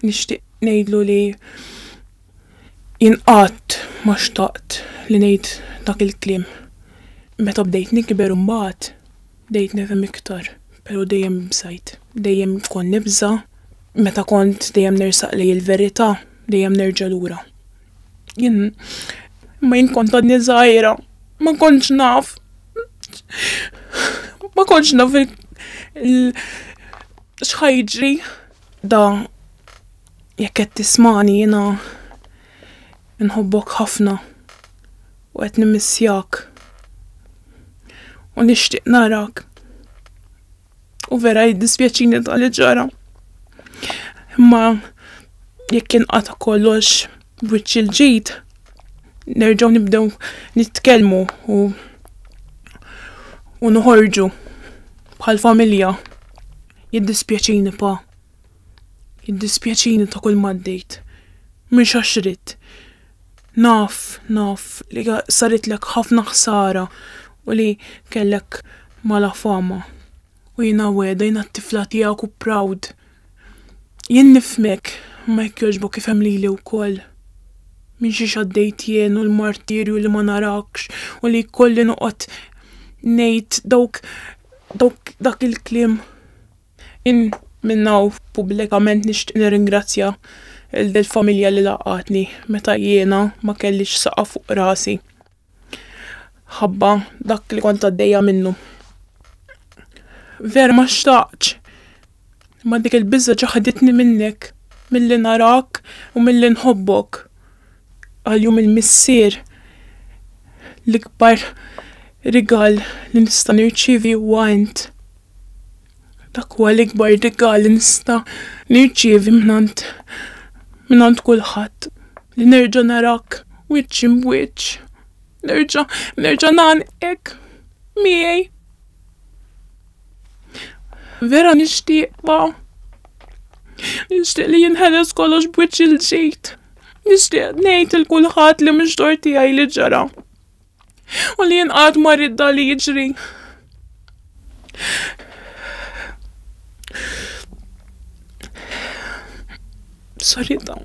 Nixtieq ngħidlu li jien qatt ma xtaqt li ngħid dak il-kliem. Meta bdejt nikber imbagħad bdejt nifhem iktar, però dejjem ibżajt. Dejjem kont nibża' meta kont dejjem nersaq lejn il-verità, dejjem nerġa' lura. Jien ma jien kont għadni żgħira, ma kontx naf. Ma kontx naf x'ħajġri da jekk qed tismani jiena nħobbok ħafna u qed nimissjak u nixtieq narak. U vera jiddispjaċini ta' li ġara. Imma jekk inqata' kollox b'wiċċ il-ġid, nerġgħu nibdew nitkellmu u u noħorġu bħal familja. Jiddispjaċini pa. Jiddispjaċini ta' kull m'għaddejt. Mhux għax ridt. Naf, naf li saritlek ħafna ħsara u li kellek mala fama. U jiena wegħda, jiena t-tifla tiegħek u proud. Jien nifhmek, imma jekk jogħġbok ifhem lili wkoll. Minn xiex għaddejt jien u l-martirju li ma narakx u li jkolli noqgħod ngħid dawk, dawk, dak il-kliem. Jien minn hawn pubblikament nixtieq nirringrazzja lil dil-familja li laqgħatni meta jiena ma kellix saqaf fuq rasi ħabba dak li kont għaddejja minnu. Vera ma xtaqtx, imma dik il-biża' ġaħħditni minnek, milli narak u milli nħobbok. Qal jum il-missier, l-ikbar rigal li nista' nirċievi huwa int. Dak huwa l-ikbar rigal li nista' nirċievi mingħand mingħand kulħadd, li nerġa' narak wiċċ imb'wiċċ, nerġa' nerġa' ngħannqek miegħi. Vera nixtieqha. Nixtieq li jinħeles kollox b'wiċċ il-ġid. Nixtieq ngħid lil kulħadd li mhux xogħol tiegħi li ġara. U li jien qatt ma rrid dan li jiġri. Sorry dawn.